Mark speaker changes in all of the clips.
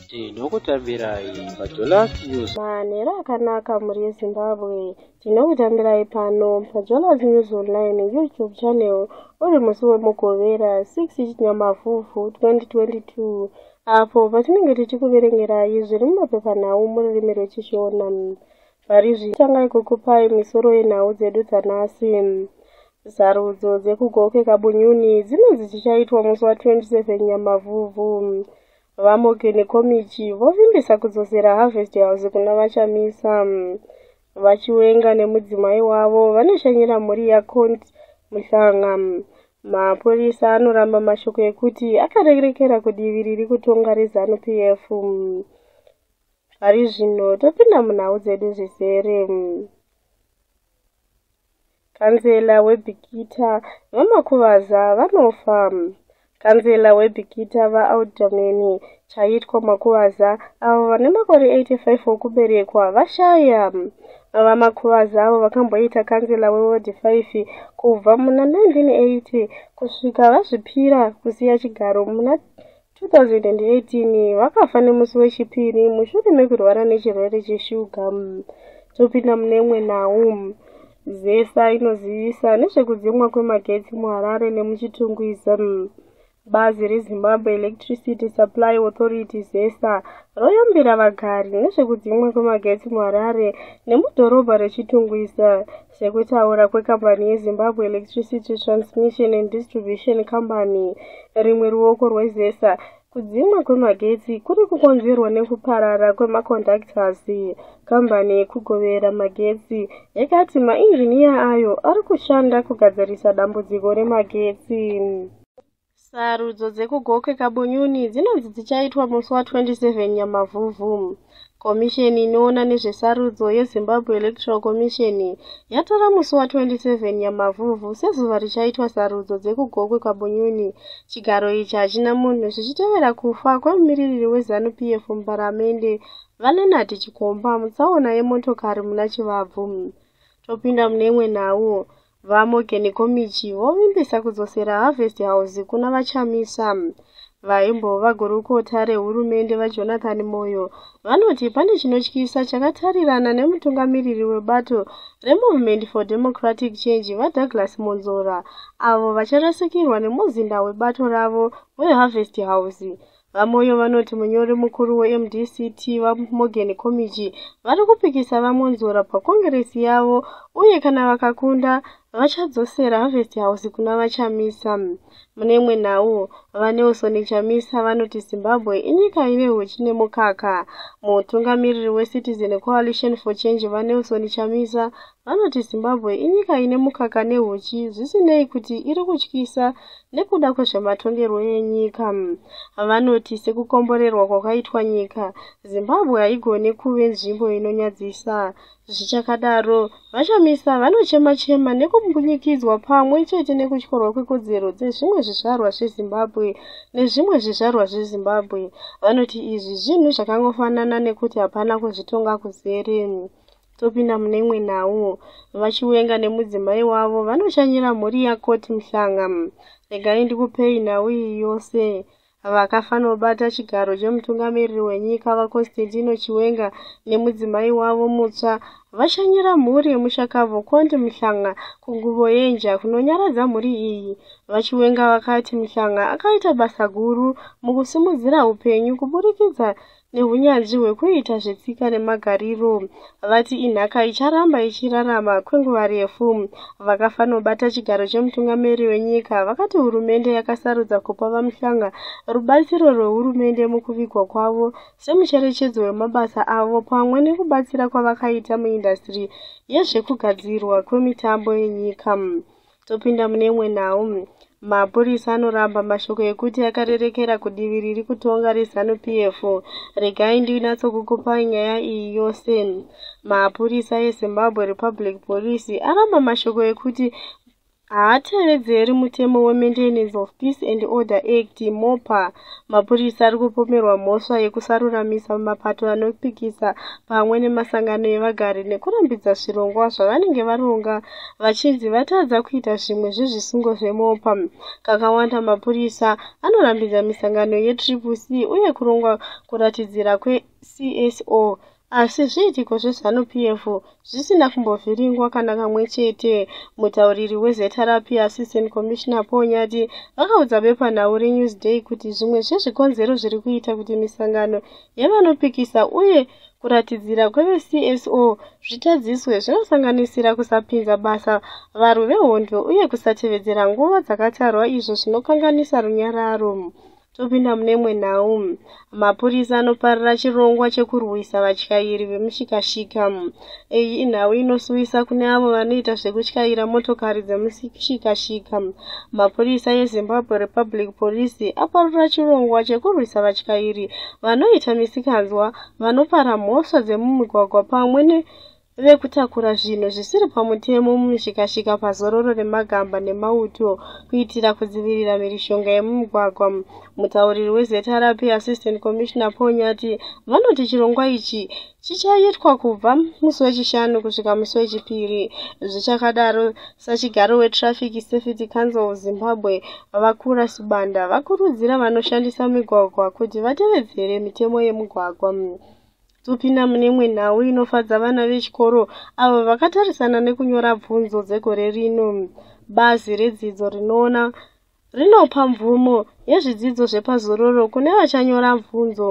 Speaker 1: tinokutambirai pajolas news manhero akanaka
Speaker 2: mhuri yezimbabwe tinokutambirai pano pajolas news online youtube channel uri musi wemugovera 6 chinyamafufu 2022 apo patinenge tichikuverengerai zviri mumapepanhau mururimi rwechishona Varizvi tangai kukupai misoro yenhau dzedu dzanasi. Sarudzo dzekuGoke Kabunyuni dzine dzichichaitwa musi wa 27 Nyamavhuvhu. VaMoke nekomichi vovimbisa kudzosera Harvest House kuna VaChamisa. VaChiwenga nemudzimai wavo vanoshanyira mhuri yaCont Muhlanga. Mapurisa anoramba mashoko ekuti akarerekera kudivi riri kutonga reZanu PF. Pari zvino topinda munhau dzedu zvizere. Kanzela weBikita VaMakuvaza vanofa. Kanzela weBikita VaAudameni Chaitwa Makuvaza avo vane makore 85 okuberekwa vashaya. VaMakuvaza avo vakamboita kanzela wewodhi 5 kubva muna 1980 kusvika vazvipira kusiya chigaro muna 2018 vakafa nemusi wechipiri mushure mekurwara nechirwere cheshuga topinda mune imwe nhau zesa inozivisa nezvekudzimwa kwemagetsi muharare nemuchitungwiza bazi rezimbabwe electricity supply authority zesa royambira vagari nezvekudzimwa kwemagetsi muharare nemudhorobha rechitungwiza Sekutaura kwekambani yeZimbabwe Electricity Transmission and Distribution Company, rimwe ruoko rweZESA, kudzimwa kwemagetsi kuri kukonzerwa nekuparara kwemaconductors. Kambani yekugovera magetsi yakati mainjiniya ayo ari kushanda kugadzirisa dambudziko remagetsi. Sarudzo dzekuGokwe Kabonyuni dzinonzi dzichaitwa musi wa 27 Nyamavhuvhu. Komisheni inoona nezvesarudzo yeZimbabwe Electoral Commission yatora musi wa 27 Nyamavhuvhu sezuva richaitwa sarudzo dzekuGokwe Kabonyuni. Chigaro ichi hachina munhu zvichitevera kufa kwemumiririri weZanu PF muparamende, VaLeonard Chikomba mutsaona yemotokari muna Chivabvu. Topinda mune imwe nhau. VaMorgan Komichi vovimbisa kudzosera Harvest House kuna VaChamisa. Vaimbova gurukota rehurumende VaJonathan Moyo vanoti pane chinotyisa chakatarirana nemutungamiriri webato reMovement for Democratic Change VaDouglas Monzora avo vacharasikirwa nemuzinda webato ravo weHarvest House VaMoyo vanoti munyori mukuru weMDCT, VaMorgan Komichi, vari kupikisa VaMwonzora pakongiresi yavo uye kana vakakunda, vachadzosera Harvest House kuna VaChamisa. Mune imwe nhau, VaNelson Chamisa vanoti Zimbabwe inyika ine huchi nemukaka. Mutungamiriri weCitizen Coalition for Change, VaNelson Chamisa, Vanoti Zimbabwe inyika ine mukaka nehuchi zvisinei kuti iri kutyisa nekuda kwezvematongerwo enyika. Vanoti sekukomborerwa kwakaitwa nyika, Zimbabwe haigone kuve nzvimbo inonyadzisa. Zvichakadaro, VaChamisa vanochema-chema nekumbunyikidzwa pamwe chete nekutyorwa kwekodzero dzezvimwe zvizvarwa zveZimbabwe nezvimwe zvizvarwa zveZimbabwe. Vanoti izvi zvinhu zvakangofanana nekuti hapana kuzvitonga kuzere. topinda mune imwe nhau vachiwenga nemudzimai wavo vanoshanyira mhuri yakoti muhlanga regai ndikupei nhau iyi yose vakafanobata chigaro chemutungamiriri wenyika vaconstantino chiwenga nemudzimai wavo mutsva vashanyira mhuri yemushakabvu konti muhlanga kunguvo yenja kunonyaradza mhuri iyi vachiwenga vakati muhlanga akaita basa guru mukusimudzira upenyu kuburikidza nehunyanzvi hwekuita zvetsika nemagariro vati inhaka icharamba ichirarama kwenguva refu vakafanobata chigaro chemutungamiri wenyika vakati hurumende yakasarudza kupa vamuhlanga rubatsiro rwehurumende mukuvigwa kwavo semucherechedzo wemabasa avo pamwe nekubatsira kwavakaita muindastiri yezvekugadzirwa kwemitambo yenyika Topinda mune imwe nhau. Mapurisa anoramba mashoko ekuti akarerekera kudivi riri kutonga reZanu PF. Regai ndinatsokukupai nyaya iyi yose. Mapurisa eZimbabwe Republic Police aramba mashoko ekuti haatevedzeri mutemo weMaintenance of Peace and Order Act, MOPA, Mapurisa ari kupomerwa mhosva yekusaruramisa mapato anopikisa pamwe nemasangano evagari nekurambidza zvirongwa zvavanenge varonga vachinzi vatadza kuita zvimwe zvezvisungo zvemopa. Kakawanda mapurisa anorambidza misangano yeTriple C uye kurongwa kuratidzira kweCSO Asi zviitiko zveZanu PF zvisina kumbovhiringwa kana kamwe chete. Mutauriri weZRP Assistant Commissioner Paul Nyati vakaudza bepanhau reNewsDay kuti zvimwe zvezvikonzero zviri kuita kuti misangano yevanopikisa uye kuratidzira kweveCSO zvitadziswe zvinosanganisira kusapinza basa varwi vehondo uye kusatevedzera nguva dzakatarwa izvo zvinokanganisa runyararo. topinda mune imwe nhau mapurisa anoparira chirongwa chekurwisa vatyairi vemushikashika iyi inhau inosuwisa kune avo vanoita zvekutyaira motokari dzemushikashika mapurisa yezimbabwe republic police aparira chirongwa chekurwisa vatyairi vanoita misikanzwa vanopara mhosva dzemumigwagwa pamwe ne vekutakura zvinhu zvisiri pamutemo mumishikashika pazororo remagamba nemauto kuitira kudzivirira mhirishonga yemumugwagwa mutauriri wezrp assistant commissioner paul nyati vanoti chirongwa ichi chichaitwa kubva musi wechishanu kusvika musi wechipiri zvichakadaro sachigaro wetraffic safety council of zimbabwe vakura sibanda vakurudzira vanoshandisa migwagwa kuti vatevedzere mitemo yemugwagwa Topinda mune imwe nhau inofadza vana vechikoro avo vakatarisana nekunyora bvunzo dzegore rino. Bazi redzidzo rinoona rinopa mvumo yezvidzidzo zvepazororo kune vachanyora bvunzo.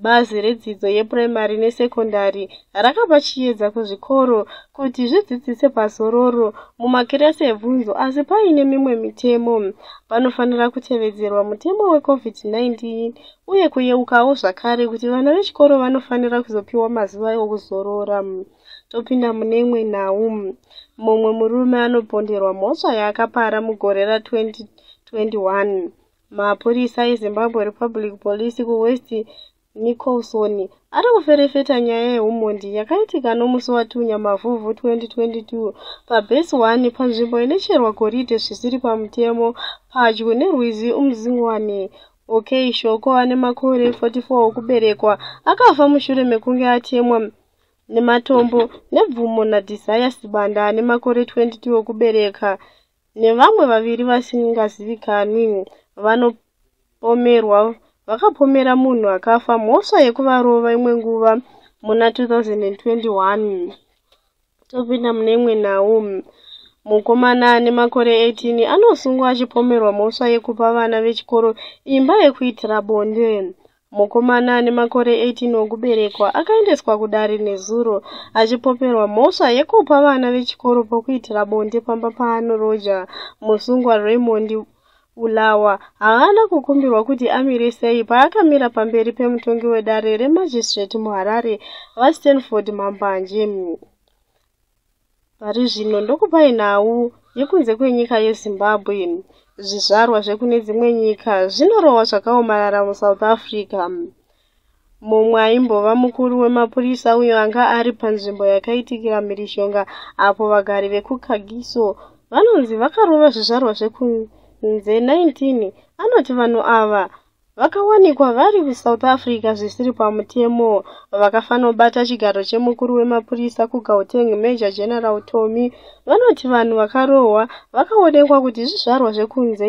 Speaker 2: Bazi redzidzo yepuraimari nesekondari rakapa chiyedza kuzvikoro kuti zvidzidzise pazororo mumakirasi ebvunzo asi paine mimwe mitemo panofanira kutevedzerwa mutemo weCovid-19 uye kuyeukawo zvakare kuti vana vechikoro vanofanira kuzopiwa mazuva okuzorora topinda mune imwe nhau mumwe murume anoponderwa mhosva yaakapara mugore ra2021 mapurisa ezimbabwe republic police kuwest nicholson ari kuferefeta nyaya yeumhondi yakaitika nomusi watunya mavhuvhu 2022 pabase 1 panzvimbo inocherwa goridhe zvisiri pamutemo padyo nerwizi umzingwane Okay, Shoko ane makore 44 okuberekwa akafa mushure mekunge atemwa nematombo nebvumo naDesire Sibanda ane makore 22 okubereka nevamwe vaviri vasingazivikanwi vanopomerwa vakapomera munhu akafa mhosva yekuvarova imwe nguva muna 2021. Topinda mune imwe nhau. Mukomana ane makore 18 anosungwa achipomerwa mhosva yekupa vana vechikoro imba yekuitira bonde. Mukomana ane makore 18 okuberekwa akaendeswa kudare nezuro achipomerwa mhosva yekupa vana vechikoro pokuitira bonde pamba paanoroja. Musungwa Raymond Bulawa haana kukumbirwa kuti amire sei paakamira pamberi pemutongi wedare remagistrate muHarare, VaStanford Mambanje. Pari zvino ndokupai nhau yekunze kwenyika yeZimbabwe. Zvizvarwa zvekune dzimwe nyika zvinorohwa zvakaomarara muSouth Africa. Mumwe aimbova mukuru wemapurisa uyo anga ari panzvimbo yakaitikira mhirizhonga apo vagari vekuKagiso vanonzi vakarova zvizvarwa zvekunze 19 anoti vanhu ava vakawanikwa vari kuSouth Africa zvisiri pamutemo vakafanobata chigaro chemukuru wemapurisa kuGauteng Major General Tommy vanoti vanhu vakarohwa vakaonekwa kuti zvizvarwa zvekunze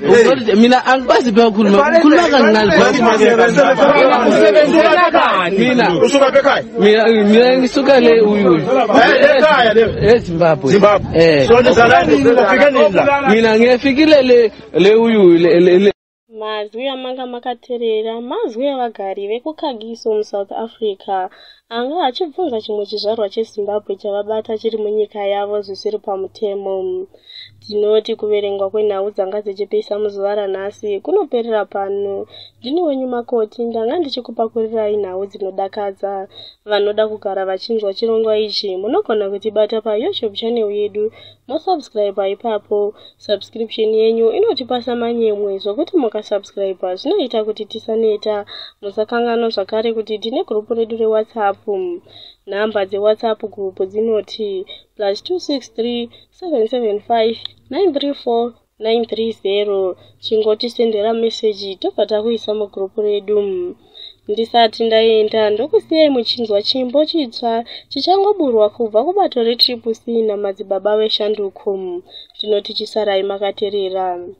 Speaker 3: Ukarite mina angikwazi pewa kuruma kuruma kancane mina usuka pekai
Speaker 2: mina mina ngisuka le uyu uyu ekhaya le ezimbabwe Zimbabwe. eh so ndizalani ufike nini la mina ngiyafikile le le uyu uyu le le- le Mazwi amanga makaterera mazwi evagari vekuKagiso muSouth Africa anga achibvunza chimwe chizvarwa cheZimbabwe chavabata chiri munyika yavo zvisiri pamutemo. Tinoti kuverengwa kwenhau dzanga dzichipisa muzuva ranhasi kunoperera pano. Ndini wenyu Makoti, ndanga ndichikupakurirai nhau dzinodakadza. Vanoda kugara vachinzwa chirongwa ichi munogona kutibata paYouTube channel yedu mosubscriber ipapo. Subscription yenyu inotipasa manyemwe zvokuti mukasubscriber zvinoita kuti tisaneta. Musakanganwa zvakare kuti tine gurupu redu reWhatsApp. Nhamba dzeWhatsApp group dzinoti plus 263 775 934 930 chingotisendera meseji tobva takuisa mugrupu redu ndisati ndaenda ndokusiyai muchinzwa chimbo chitsva chichangoburwa kubva kubato retriple c namadzibaba veshanduko tinoti chisarai makaterera